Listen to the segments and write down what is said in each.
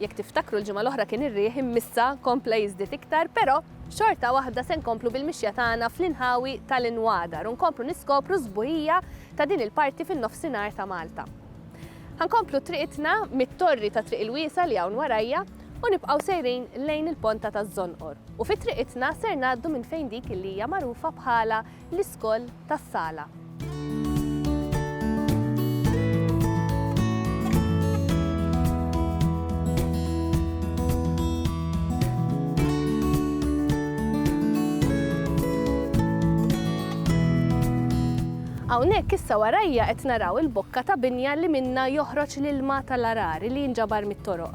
Jekk tiftakru l-ġimgħa l-oħra kien ir-riħ immissa kompla jiżdied iktar, però xorta waħda se nkomplu bil-mixja tagħna fl-inħawi tal-inwadar u nkomplu niskopru s-sbuħija ta' din il-parti fin-Nofsinhar ta' Malta. Ħankomplu triqitna mit-torri ta' Triq il-Wiesgħa li hawn warajja u nibqgħu sejrin lejn il-Ponta taż-Żonqor u fi triqitna ser ngħaddu minn fejn dik li hija magħrufa bħala L-iskoll tas-sala. Hawnhekk issa warajja qed naraw il-bokka ta' binja li minnha joħroġ l-ilma tal-għargħar li jinġabar mit-toroq.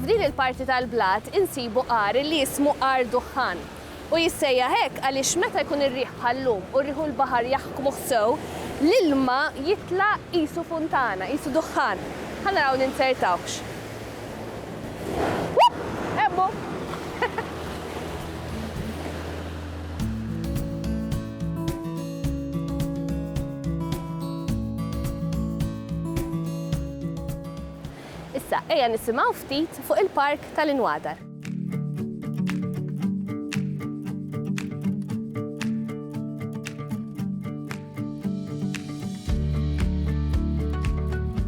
F'din il-parti tal-blat insibu għar li jismu għar duħħan. U jissejjaħ hekk għaliex meta jkun ir-riħ bħal-lum u r-riħ u l-baħar jaħkmuh sew, l-ilma jitla' qisu funtana, qisu duħħan. Ħa naraw ninzertawhx. Issa ejja nisimgħu ftit fuq il-Park tal-Inwadar.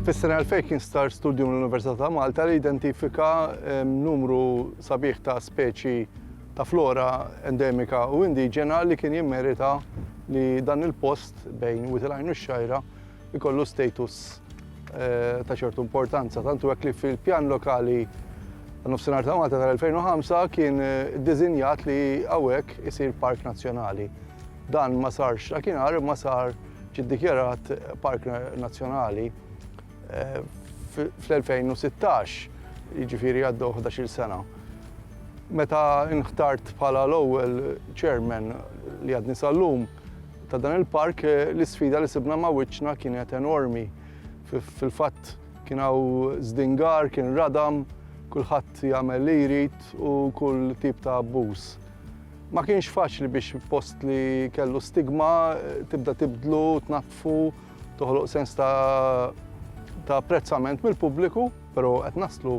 Fis-sena 2000 kien star studju mill-Università ta' Malta li identifika numru sabiħ ta' speċi ta' flora endemika u indiġena li kien jimmerita li dan il-post bejn Witilajn u x-xajra ikollu status ta' ċertu importanza, tantu hekk li fil-pjan lokali nofsinhar ta' Malta tal-2005 kien dizinjat li hawnhekk isir park nazzjonali. Dan ma sarx dakinhar ma sar ġiddikjarat park nazzjonali eh, fl-2016, jiġifieri għaddew 11-il sena. Meta nħtart bħala l-ewwel chairman li għadni sal-lum, ta' dan il-park l-isfida li sibna ma' wiċċna kienet enormi. Fil-fatt kien hawn żdingar, kien radam, kulħadd jagħmel li jrid u kull tip ta' abbuż. Ma kienx faċli biex post li kellu stigma tibda tibdlu, tnattfu, toħloq sens ta' ta' prezzament mill-pubbliku, però qed naslu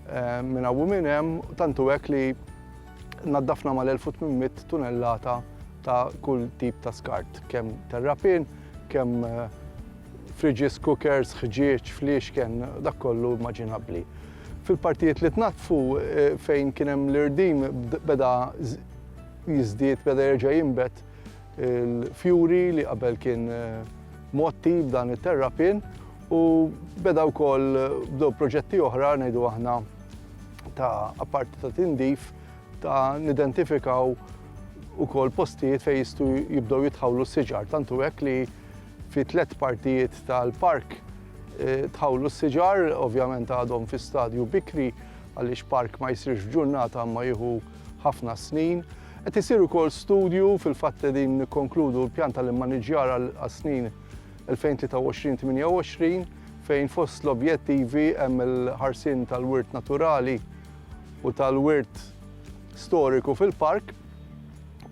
eh, minn hawn minn hemm, tantu hekk li Naddafna mal-1800 tunellata ta' kull tip ta' skart, kemm terrapin, kemm eh, fridges, cookers, ħġieġ, fliexken, dak kollu immaġinabbli. Fil-partijiet li tnaddfu eh, fejn kien hemm l-irdim beda jiżdied, beda jerġa' jimbet il-fjuri li qabel kien eh, motti b'dan it-terrapin u beda wkoll bdew proġetti oħra ngħidu aħna ta' apparti ta' tindif ta' nidentifikaw ukoll postijiet fejn jistgħu jibdew jitħawlu s-siġar. Tantu hekk li fi tliet partijiet tal-park eh, tħawlu s-siġar, ovvjament għadhom fi stadju bikri għaliex park ma jsirx ġurnata ma jieħu ħafna snin. Qed isir ukoll studju fil-fatt li din nikkonkludu l-pjan tal-immaniġjar għas-snin 2023-28 fejn fost l-objettivi hemm il-ħarsien tal-wirt naturali u tal-wirt storiku fil-park,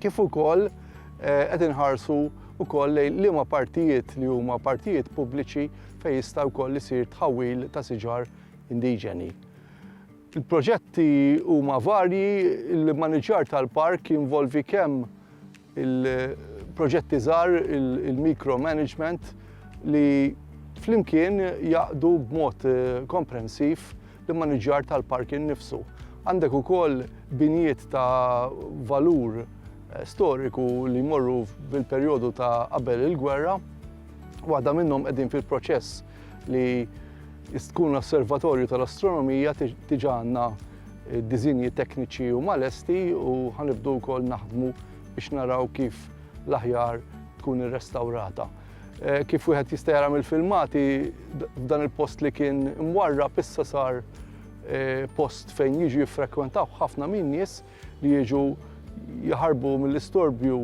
kif ukoll eh, qed inħarsu wkoll lejn liema partijiet li huma partijiet pubbliċi fejn jista' wkoll isir tħawwil ta' siġar indiġeni. Il-proġetti huma varji, il-mmaniġġjar tal-park jinvolvi kemm il-proġetti żgħar, il-micro management, li flimkien jgħaqqdu b'mod komprensiv l-immaniġġjar tal-park innifsu. Għandek ukoll binjiet ta' valur storiku li jmorru fil-perjodu ta' qabel il-gwerra, waħda minnhom qegħdin fil-proċess li tkun osservatorju tal-astronomija diġà għandna eh, diżinji tekniċi u malesti u ħanibdu wkoll naħdmu biex naraw kif l-aħjar tkun irrestawrata. Eh, kif wieħed jista' jara mill-filmati f'dan il-post li kien mwarra pissa sar eh, post fejn jiġu jiffrekwentaw ħafna min nies li jiġu jaħarbu mill-istorbju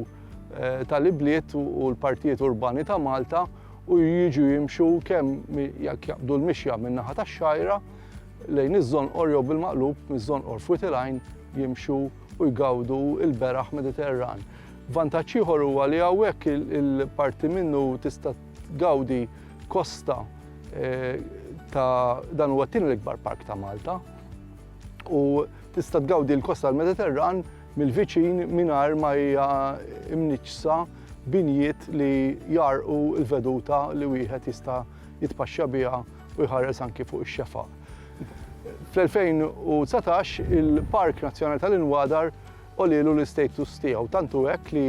tal-ibliet u l-partijiet urbani ta' Malta u jiġu jimxu kemm jekk jaqbdu l-mixja min-naħa tax-Xgħajra lejn iż-Żonqor jew bil-maqlub miż-Żonqor f'Wied il-Għajn jimxu u jgawdu l-beraħ Mediterran. Vantaġġ ieħor huwa li hawnhekk il-parti minnu tista' tgawdi kosta ta' dan huwa t-tieni l-ikbar park ta' Malta. u tista' tgawdi l-kosta tal-Mediterran mill-viċin mingħajr ma hija mniġġsa binjiet li jgħarrqu l-veduta li wieħed jista' jitpaxxa biha u jħares anki fuq ix-xefaq. Fl-2019 il-Park Nazzjonali tal-Inwadar Għolielu l-istatus tiegħu, tant hu hekk li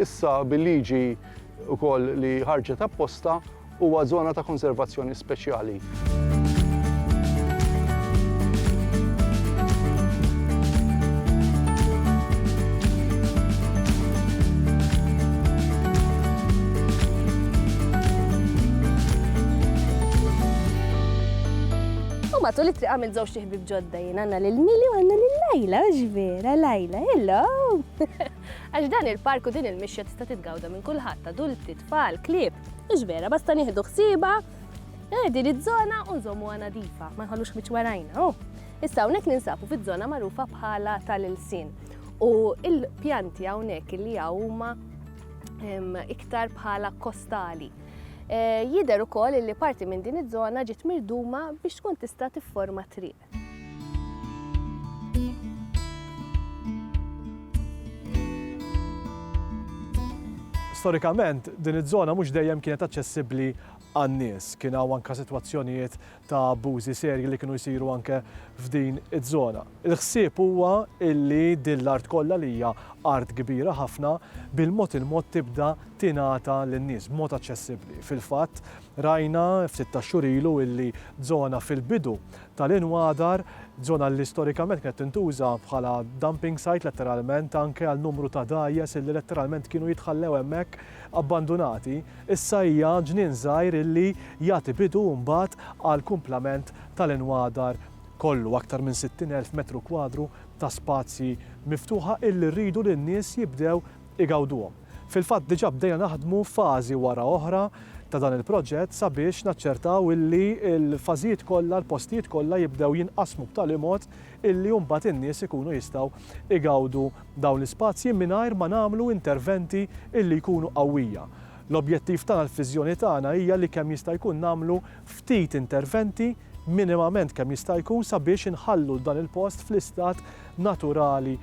issa bil-liġi wkoll li ħarġet apposta huwa żona ta' konservazzjoni speċjali. Matul it-triqa minn żewġt Ħbieb ġodda jien għandna lil Mili u għandna lil Lajla, mhux vera Lajla, hello! Għax dan il-park u din il-mixja tista' titgawda minn kulħadd, adulti, tfal, klieb, mhux vera, basta nieħdu ħsieba eh, din iż-żona u nżommuha nadifa, ma nħallux miċ warajna. Oh. Issa hawnhekk ninsabu fiż-żona magħrufa bħala tal-ilsin. U il-pjanti hawnhekk li huma iktar bħala kostali. Jidher ukoll li parti minn din iż-żona ġiet mirduma biex tkun tista' tifforma triq. Storikament, din iż-żona mhux dejjem kienet aċċessibbli għan-nies. Kien hawn anke sitwazzjonijiet ta' abbużi serji li kienu jsiru anke f'din iż-żona. Il-ħsieb huwa illi din l-art kollha li hija art kbira ħafna bil-mod il-mod tibda tingħata lin-nies b'mod aċċessibbli. Fil-fatt rajna ftit tax-xhur ilu illi żona fil-bidu tal-Inwadar, żona li storikament kienet tintuża bħala dumping site letteralment anke għal numru ta' dgħajjes illi letteralment kienu jitħallew hemmhekk abbandunati, issa hija ġnien żgħir illi jagħti bidu mbagħad għall-kumplament tal-Inwadar kollu aktar minn 60,000 metru kwadru ta' spazji miftuħa illi rridu li n-nies jibdew igawduhom. Fil-fatt diġà bdejna naħdmu fażi wara oħra ta' dan il-proġett sabiex naċċertaw illi l-fażijiet kollha, l-postijiet kollha jibdew jinqasmu b'tali mod illi mbagħad in-nies ikunu jistgħu igawdu dawn l-ispazji mingħajr ma nagħmlu interventi illi jkunu qawwija. L-objettiv tagħna, l-viżjoni tagħna hija li kemm jista' jkun nagħmlu ftit interventi, minimament kemm jista' jkun sabiex inħallu dan il-post fl-istat naturali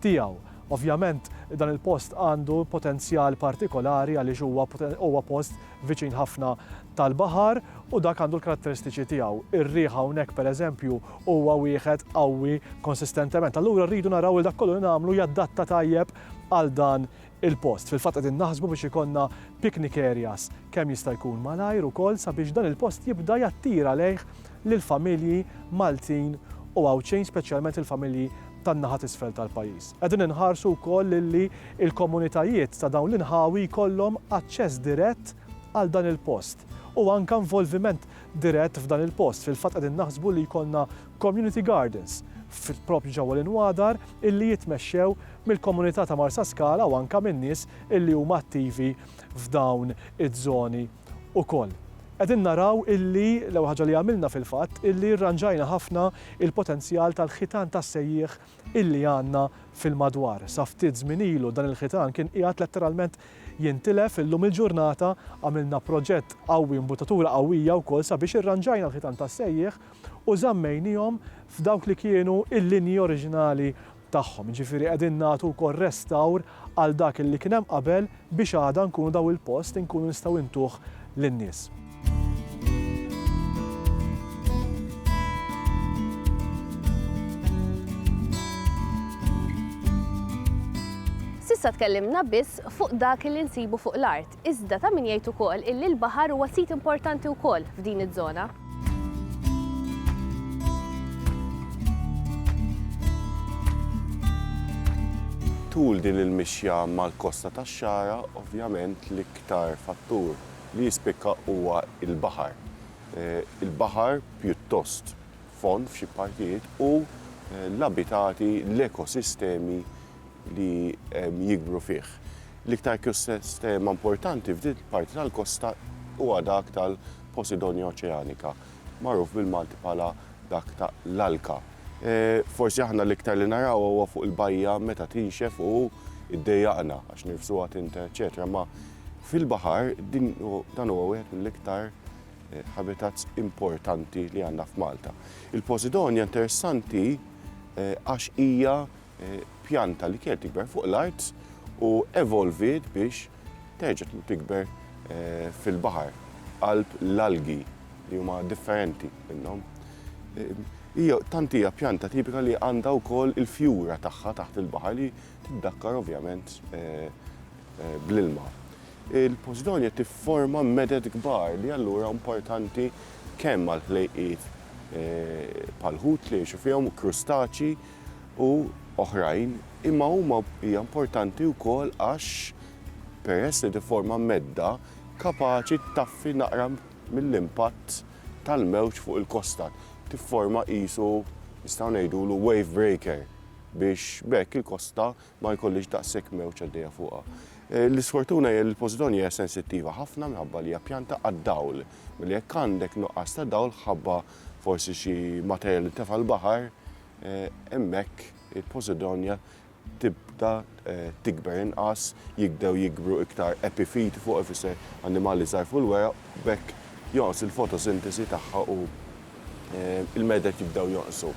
tiegħu. Ovvjament dan il-post għandu potenzjal partikolari għaliex huwa huwa post viċin ħafna tal-baħar u dak għandu l-karatteristiċi tiegħu. Ir-riħ hawnhekk pereżempju huwa wieħed qawwi konsistentement. Allura rridu naraw li dak kollu li nagħmlu jaddatta tajjeb għal dan il-post. Fil-fatt qegħdin naħsbu biex ikollna picnic areas kemm jista' jkun malajr ukoll sabiex dan il-post jibda jattira lejh lill-familji Maltin u Għawdxin speċjalment il-familji tan-naħa t'isfel tal-pajjiż. Qegħdin inħarsu wkoll lilli l-komunitajiet ta' dawn l-inħawi jkollhom aċċess dirett għal dan il-post u anke involviment dirett f'dan il-post. Fil-fatt qegħdin naħsbu li jkollna Community Gardens, proprju ġewwa l-inwadar, illi jitmexxew mill-komunità ta' Marsaskala u anke minn nies illi huma attivi f'dawn iż-żoni wkoll. Qegħdin naraw illi, l-ewwel ħaġa li għamilna fil-fatt, illi rranġajna ħafna l-potenzjal tal-ħitan tas-sejjieħ illi għandna fil-madwar. Sa ftit żmien ilu dan il-ħitan kien qiegħed letteralment jintilef, illum il-ġurnata għamilna proġett qawwi, imbuttatura qawwija wkoll sabiex irranġajna l-ħitan tas-sejjieħ, u żammejniehom f'dawk li kienu l-linji oriġinali tagħhom. Jiġifieri qegħdin nagħtu wkoll restawr għal dak illi kien hemm qabel biex għada nkunu daw il-post inkunu nistgħu intuh lin-nies. S'issa tkellimna biss fuq dak illi nsibu fuq l-art, Iżda ta' min jgħid ukoll illi l-baħar huwa sit importanti wkoll f'din iż-żona. Tul din il-mixja mal-kosta tax-Xagħra, ovvjament l-iktar fattur li jispikka huwa l-baħar. Il-baħar pjuttost fond f'xi partijiet u l-abitati, l-ekosistemi li jikbru fih. L-iktar ekosistema importanti f'din il-parti tal-kosta huwa dak tal-Posidonia oceanica, magħruf bil-Malti bħala dak ta' l-alka. Forsi aħna l-iktar li narawha huwa fuq il-bajja meta tinxef u ddejjaqna għax nirfsuha tint eċċetera imma fil-baħar din dan huwa wieħed mill-iktar habitats importanti li għandna f'Malta. Il-Posidonia interessanti għax hija pjanta li kienet tikber fuq l-art u evolviet biex terġa' tikber fil-baħar, qalb l-algi li huma differenti minnhom. Hija tant hija pjanta tipika li għandha wkoll il-fjura tagħha taħt il-baħar li tiddakkar ovvjament bl-ilma. Il-Posidonia tifforma meded kbar li allura importanti kemm għall-ħlejqiet bħall-ħut li jgħixu fihom, krustaċi, u oħrajn, imma huma hija importanti wkoll għax peress li tifforma medda kapaċi ttaffi naqra mill-impatt tal-mewġ fuq il-kosta. Tifforma qisu nistgħu ngħidulu wave breaker biex b'hekk il-kosta ma jkollhiex daqshekk mewġ għaddejja fuqha. L-isfortuna hija li l-Posidonja hija sensittiva ħafna minħabba li hija pjanta għad-dawl, mela jekk għandek nuqqas ta' dawl ħabba forsi xi materjal li ntefa' l-baħar, hemmhekk il-posidonja tibda tikber inqas, jibdew jikbru iktar epifiti fuq ifisser annimali żgħar fuq il-weraq, b'hekk jonqos il-fotosintesi tagħha u l-meded jibdew jonqsu.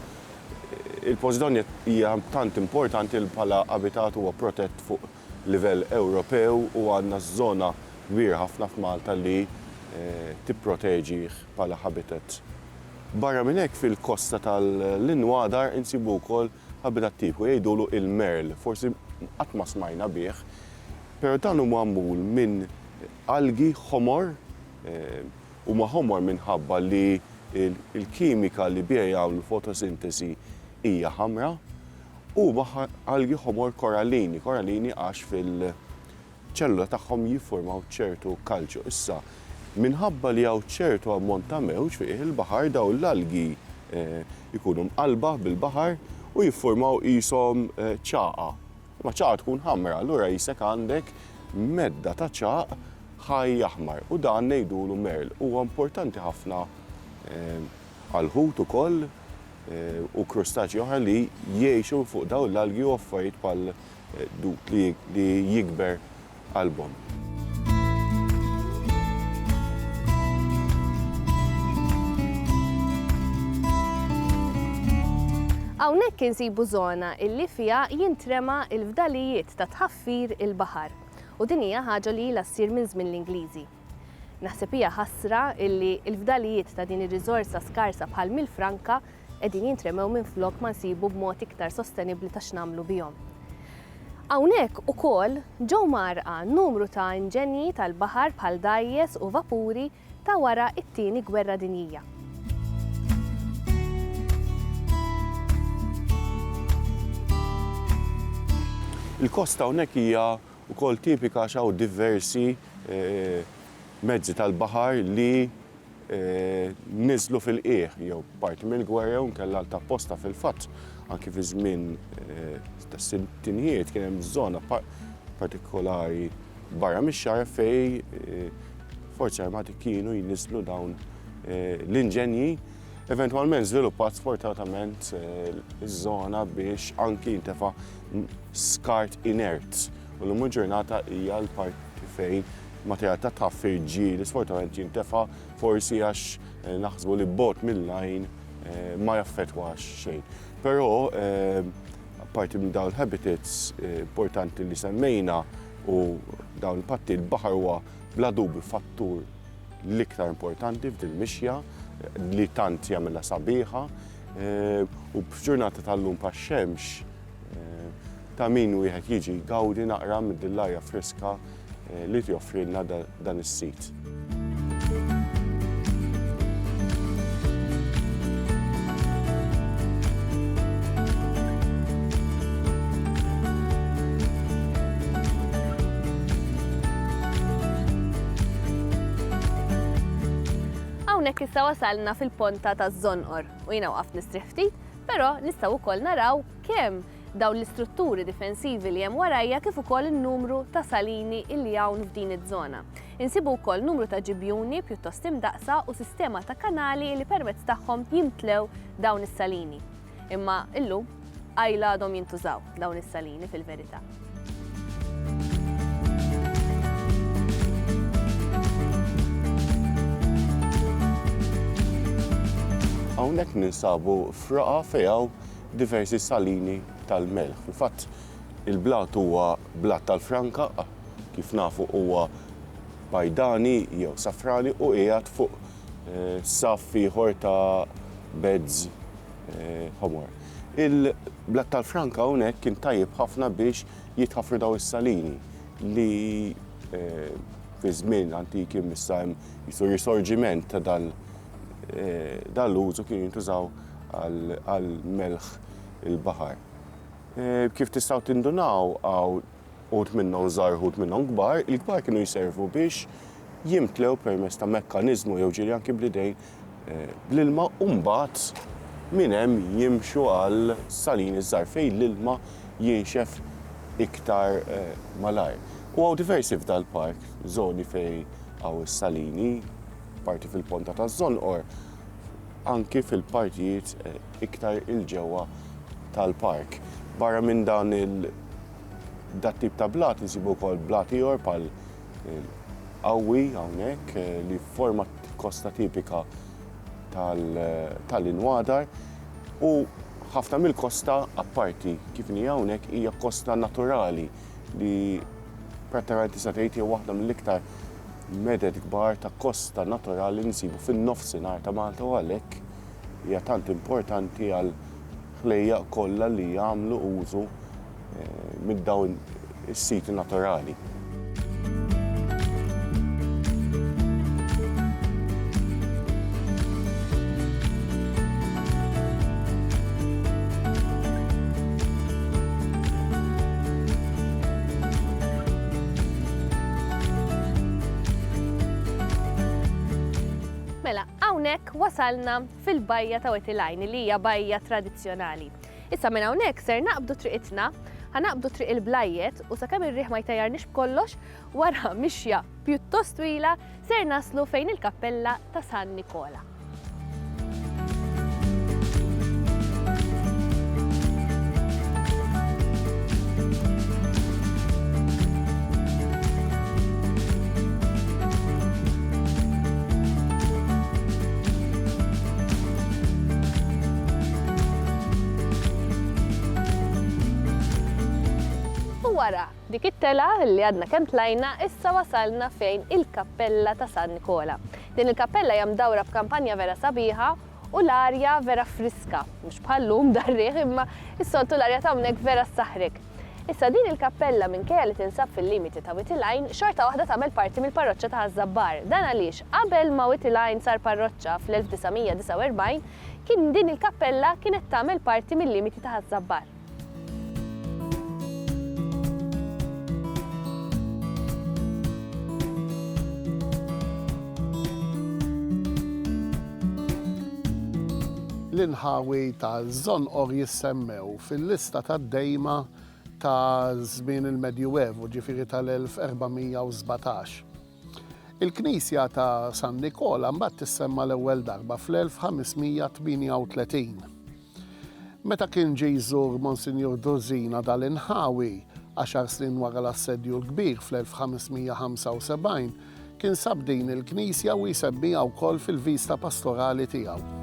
Il-posidonja hija tant importanti li bħala abitat huwa protett fuq livell Ewropew u għandna żona kbira ħafna f'Malta li tipproteġih bħala habitat. Barra minn hekk fil-kosta tal-Inwadar insibu wkoll habitat tipiku jgħidulu il-merl, forsi qatt ma smajna bih, pero dan hu magħmul minn algi ħomor, huma ħomor minħabba li l-kimika li biha jagħmlu fotosintesi hija ħamra, Huma algi ħomor korallini, korallini għax fil-ċellula tagħhom jiffurmaw ċertu kalċju. Issa, minħabba li hawn ċertu ammont ta' mewġ fi qiegħ il-baħar dawn l-algi jkunu mqallba bil-baħar u jiffurmaw qishom ċagħa. Imma ċagħa tkun ħamra, allura qisek għandek medda ta' ċagħaq ħaj aħmar u dan ngħidulu merl. Huwa importanti ħafna għal ħut ukoll u krustaċji oħra li jgħixu fuq dawn l-algi u affarijiet bħal dud li jikber qalbhom. Hawnhekk insibu żona li fiha jintrema l-fdalijiet ta' tħaffir il-baħar u din hija ħaġa li ilha ssir minn żmien l-Ingliżi. Naħseb hija ħasra illi l-fdalijiet ta' din ir-riżorsa skarsa bħal Mill Franka qegħdin jintremew minflok ma nsibu b'mod iktar sostenibbli ta' x'nagħmlu bihom. Hawnhekk ukoll ġew mgħarrqa numru ta' inġenji tal-baħar bħal dgħajjes u vapuri ta' wara t-Tieni Gwerra Dinjija. Il-kosta hawnhekk hija Ukoll tipika għax hawn diversi mezzi tal-baħar li niżlu fil-qiegħ jew parti mill-gwerra jew inkella ta' apposta. Fil-fatt, anki fi żmien tas-sittinjiet kien hemm żona partikolari barra mix-xagħar fejn il-Forzi Armati kienu jniżżlu dawn l-inġenji. Eventwalment żviluppat sfortunatament iż-żona biex anki jintefa' skart inert u llum il-ġurnata hija l-parti fejn materjal ta' tħaffir ġieli sfortunatament jintefa' forsi għax eh, naħsbu li bot mill-lajn eh, ma jaffetwax xejn. Però parti minn dawn habitats eh, importanti li semmejna u dawn il-patti l-baħar huwa bla dubju fattur l-iktar importanti f'dil mixja eh, li tant jagħmilha sabiħa eh, u f'ġurnata tal-lum pax-xemx ta' min wieħed jiġi jgawdi naqra mid-din l-arja friska li joffrilna dan is-sit. Hawnhekk issa wasalna fil-ponta taż-Żonqor u jiena waqaft nistrieħ ftit Però nistgħu wkoll naraw kemm dawn l-istrutturi difensivi li hemm warajja kif ukoll in-numru ta' salini li hawn f'din iż-żona. Insibu wkoll numru ta' ġibjuni pjuttost imdaqqsa u sistema ta' kanali li permezz tagħhom jimtlew dawn is-salini. Imma illum qajla għadhom jintużaw dawn is-salini fil-verità. Hawnhekk ninsabu f'raqa fejn hawn diversi salini tal-melħ. Fil-fatt, il-blat huwa blat tal-franka, kif nafu huwa bajdani jew safrani u qiegħed fuq eh, saff ieħor ta' beds eh, ħomor. Il-blat tal-Franka hawnhekk kien tajjeb ħafna biex jitħaffru dawn is-salini li fi żmien antiki missa hemm jisu risorġiment ta' dal dan l-użu kienu jintużaw għal melħ il-baħar. Kif tistgħu tindunaw hawn uħud minnhom żgħar uħud minnhom kbar, il-kbar kienu jservu biex jimtlew permezz ta' mekkaniżmu jew ġieli anki bl-idejn l-ilma u mbagħad minn hemm jimxu għal salini żgħar fejn l-ilma jinxef iktar malajr. U hawn diversi f'dal-park żoni fejn hawn is-salini, parti fil-Ponta taż-Żonqor, anki fil-partijiet iktar 'il ġewwa tal-park. Barra minn dan il, dat-tip ta' blat insibu wkoll blat ieħor bħal, Il-qawwi hawnhekk li forma kosta tipika tal-inwadar u ħafna mill-kosta apparti kif inhi hawnhekk hija kosta naturali li prattikament tista' tgħid hija waħda mill-iktar meded kbar ta' kosta naturali li nsibu fin-nofsinhar ta' Malta u għalhekk hija tant importanti għal ħlejjaq kollha li jagħmlu użu minn dawn is-siti naturali. Mela, hawnhekk wasalna fil-bajja ta' Wet il-Għajn li hija bajja tradizzjonali. Issa minn hawnhekk ser naqbdu triqitna, ħa naqbdu triq il-Blajjet u sakemm ir-riħ ma jtajjarniex b'kollox, wara mixja pjuttost twila ser naslu fejn il-kappella ta' San Nikola. U wara dik it-telgħa li għadna kemm tlajna, issa wasalna fejn il-Kappella ta' San Nikola. Din il-kappella hija mdawra b'kampanja vera sabiħa u l-arja vera friska, mhux bħal-lum dar-riħ imma s-soltu l-arja t'hawnhekk vera ssaħħrek. Issa din il-kappella minkejja li tinsab fil-limiti ta' Wied il-Għajn, xorta waħda tagħmel parti mill-parroċċa ta' Ħaż-Żabbar. Dan għaliex qabel ma Wied il-Għajn sar parroċċa fl-1949, kien din il-kappella kienet tagħmel parti mil-limiti ta' Ħaż-Żabbar. L-inħawi ta' Żonqor jissemmew fil-lista tad-dejma ta' żmien il-Medjuevu, ġifieri tal-1417. Il-knisja ta' San Nikola mbagħad tissemma' l-ewwel darba fl-1538. Meta kien ġie jżur Monsinjur Drusina dal-inħawi, għaxar snin wara l-Assedju l-Kbir fl-1575, Kien sab din il-knisja u jsemmiha wkoll fil-vista pastorali tiegħu.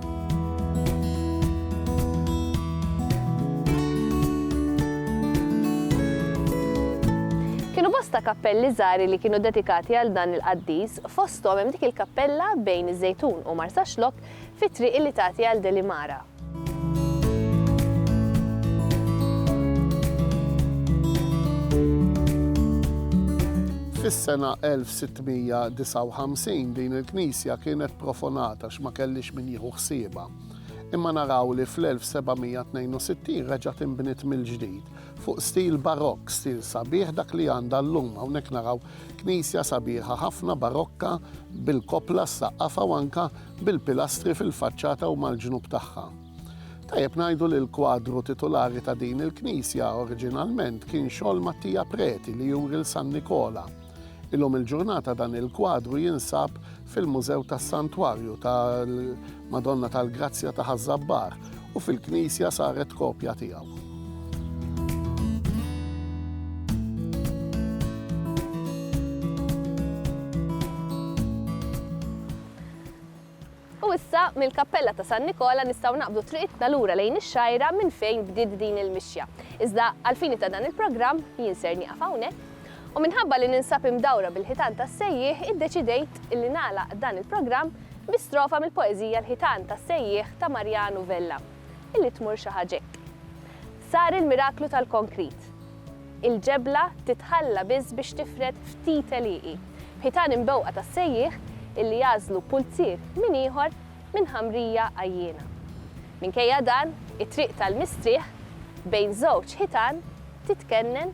Kienu bosta kappelli żgħar li kienu dedikati għal dan il-qaddis, fosthom hemm dik il-kappella bejn iż-Żejtun u Marsaxlokk fit-triq li tagħti għal Delimara. Fis-sena 1659 din il-knisja kienet profonata x'ma kellix min jieħu ħsiebha. Imma naraw li fl-1762 reġa' tinbniet mill-ġdid fuq stil barokk, stil sabiħ dak li għandha llum hawnhekk naraw Knisja sabiħa ħafna barokka bil-koppla ssaqqafha u anke bil-pilastri fil-faċċata u mal-ġnub tagħha. Tajjeb ngħidu li l-kwadru titulari ta' din il-knisja oriġinalment kien xogħol Mattia Preti li juri 'l San Nikola. Illum il-ġurnata dan il-kwadru jinsab fil-Mużew tas-Santwarju tal-Madonna tal-Grazzja ta' Ħaż-Żabbar u fil-knisja saret kopja tiegħu. U issa, mill-Kappella ta' San Nikola nistgħu naqbdu triqitna lura lejn ix-Xgħajra minn fejn bdiet din il-mixja. Iżda, għall-fini ta' dan il-programm, jien ser nieqaf hawnhekk U minħabba li ninsab imdawra bil-ħitan tas-sejjieħ iddeċidejt li nagħlaq dan il-programm bi strofa mill-poeżija L-ħitan tas-sejjieħ ta' Mariano Vella, illi tmur xi ħaġa hekk, Sar il-miraklu tal-konkrit. Il-ġebla titħalla biss biex tifred ftit għelieqi, b'ħitan imbewqa tas-sejjieħ illi jagħżlu pulzier minn ieħor minn ħamrija għajjiena. Minkejja dan, it-triq tal-mistrieħ, bejn żewġ ħitan, titkennen,